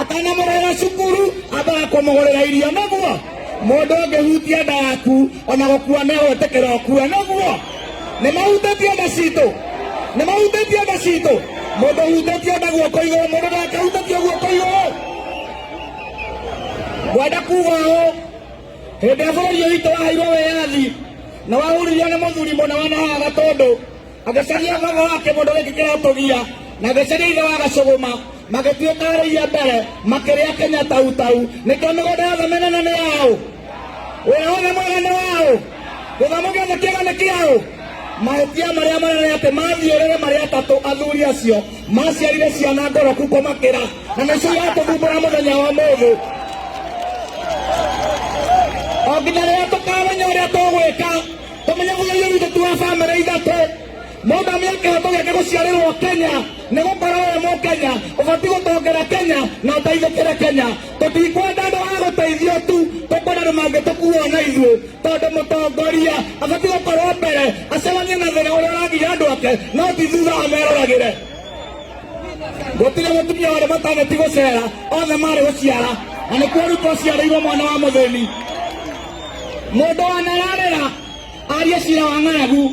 atanamũrera cukuru ambaga kũmũgũrĩra irio naguo mũndũ ũngĩhutia nda yaku ona gũkua nĩagwĩtĩkĩra ũkue naguo nĩ mahutĩtie nda citũ nĩ mahutĩtie nda citũ mũndũ ũhutĩtie nda guoko igũrũ mũndũ ndakahutĩtio guoko igũrũ ngwenda kuga ũũ hĩndĩ ya bũrũri ũyũ witũ waheirwo wĩyathi na wahuririo nĩ mũthuri mũna wanahaga tondũ magĩcaria baba wa kĩmũndũ gĩkĩ kĩratũgia na gĩcaria ithe wa gacũgũma magĩtuĩkarĩirie mbere makĩrĩa kenya tautau nĩkĩo mĩgũnda yothe mĩnene nĩ yaũ wĩra wothe mwega nĩ waũ gĩthomo gĩothe kĩega nĩ kĩaũ mahĩtia marĩa manene atĩ mathiũrĩre marĩa atatũ athuri acio maciarire ciana ngoroku kũmakĩra na nĩcio iratũthumbũra mũthenya wa mũthũ o nginya rĩrĩa tũkamenya ũrĩa tũgwĩka tũmenye mũgerio witũ ti wa bamĩrĩ ithatũ mũndũ amenya kĩhoto gĩake gũciarĩrwo kenya nĩ gũkorwo we mũkenya ũbatiĩ gũtongera kenya na ũteithĩkĩre kenya tũtikwenda andũ a gũteithio tu tũkwenda andũ mangĩtũkuo na ithuĩ tondũ mũtongoria abatiĩ gũkorwo mbere acemanie na thĩna ũrĩa ũragiria andũ ake no ti thutha ameroragĩre gũtirĩ mũtumia warĩ mataneti gũcera othe marĩ gũciara na nĩkuo rĩu twaciarĩirwo mwana wa mũthĩni mundu wanararira arie cira wa ng'aragu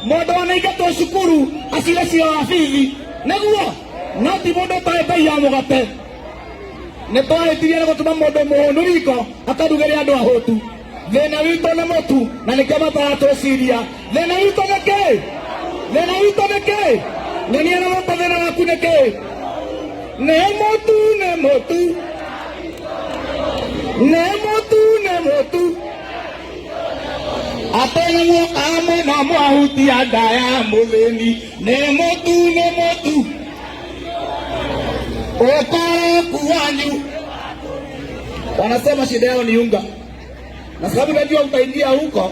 mundu wanaingatwo cukuru acire cira wa bithi niguo no ti mundu ũtoĩ mbei ya mũgate nĩ twahĩtirie nĩ gũtũma mũndũ mũhũnu riko akarugĩre andũ ahũtu thĩna witũ nĩ mũtu na nĩkĩo mataratwĩciria Thĩna witũ nĩ kĩ? Thĩna witũ nĩ kĩ? Nyonia na moko thĩna waku nĩ kĩ? Nĩ mũtu, nĩ mũtu. Nĩ mũtu, nĩ mũtu. Atene muoka hamwe na mwahutia nda ya mũthĩni. Nĩ mũtu, nĩ mũtu. Ũkoroku wanyu. Wanasema shida yao ni unga, na sababu najua utaingia huko